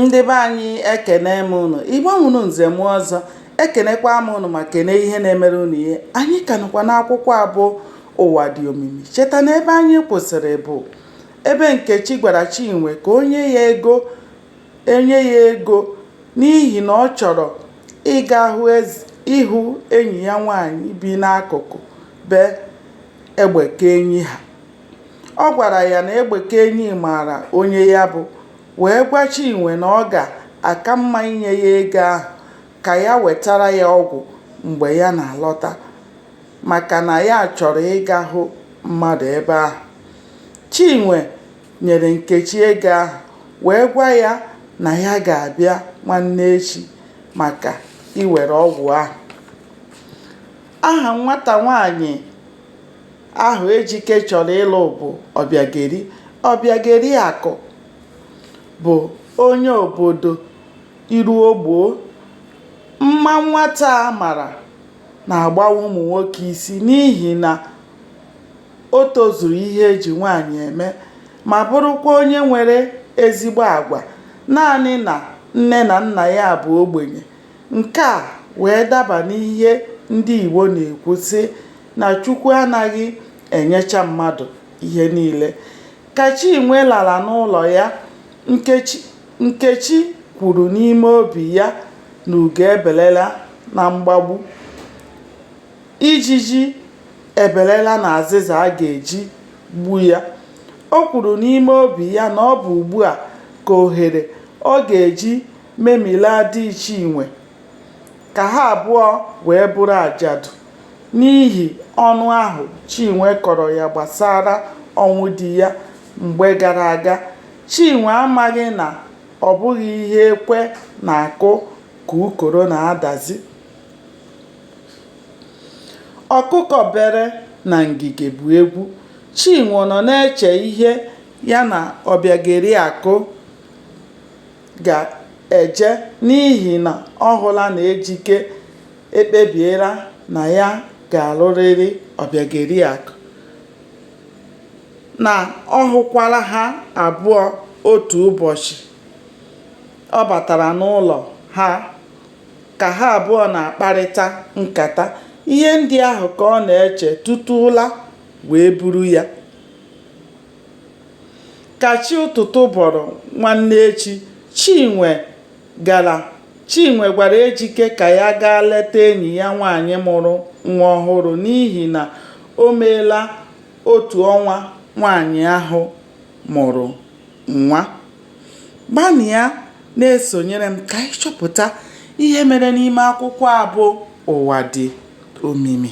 ndị be anyị ekene m ụnụ ịgbanwụrụ nze m ọzọ ekenekwa m ụnụ ma kene ihe na-emere ụnụ ihe anyị ka nọkwa n'akwụkwọ a bụ ụwa dị omimi cheta na ebe anyị kwụsịrị bụ ebe nkechi gwara chinwe ka o nye ya ego n'ihi na ọ chọrọ ịga ịhụ enyi ya nwaanyị bi n'akụkụ be egbekeenyi ha Ọ gwara ya na Egbekeenyi maara onye ya bụ wee gwa Chinwe na ọ ga-aka mma inye ya ego ahụ ka ya wetara ya ọgwụ mgbe ya na-alọta maka na ya chọrọ ịga hụ mmadụ ebe ahụ. Chinwe nyere Nkechi ego ahụ wee gwa ya na ya ga-abịa nwanne echi maka iwere ọgwụ ahụ. Aha nwata nwaanyị ahụ Ejike chọrọ ịlụ bụ Ọbịageri. Ọbịageriakụ bụ onye obodo Iruogboo. Mma nwata a mara na-agbawa ụmụ nwoke isi n'ihi na o tozuru ihe e ji nwaanyị eme ma bụrụkwa onye nwere ezigbo agwa. Naanị na nne na nna ya bụ ogbenye. Nke a wee daba n'ihe ndị Igbo na-ekwu sị na Chukwu anaghị enyecha mmadụ ihe niile. Ka Chinwe lara n'ụlọ ya, Nkechi kwuru n'ime obi ya na ugo ebelela na mgbagbu. Ijiji ebelela n'azịza a ga-eji gbu ya. O kwuru n'ime obi ya na ọ bụ ugbu a ka ohere ọ ga-eji memilaa di Chinwe ka ha abụọ wee bụrụ ajadu n'ihi ọnụ ahụ Chinwe kọrọ ya gbasara ọnwụ di ya mgbe gara aga. Chinwe amaghị na ọ bụghị ihe ekwe na-akụ ka ukoro na-adazi. Ọkụkọ bere na ngige bụ egwu. Chinwe nọ na-eche ihe ya na Ọbịageriakụ ga-eje n'ihi na ọ hụla na Ejike ekpebiela na ya ga-alụrịrị Ọbịageriakụ, na ọ hụkwara ha abụọ otu ụbọchị ọ batara n'ụlọ ha ka ha abụọ na-akparịta nkata. Ihe ndị ahụ ka ọ na-eche tutu ụra wee buru ya. Ka chi ụtụtụ bọrọ nwanne echi, Chinwe gwara Ejike ka ya gaa leta enyi ya nwaanyị mụrụ nwa ọhụrụ n'ihi na o meela otu ọnwa nwaanyị ahụ mụrụ nwa. Gbanịa na-esonyere m ka anyị chọpụta ihe mere n'ime akwụkwọ a bụ Ụwa Dị Omimi.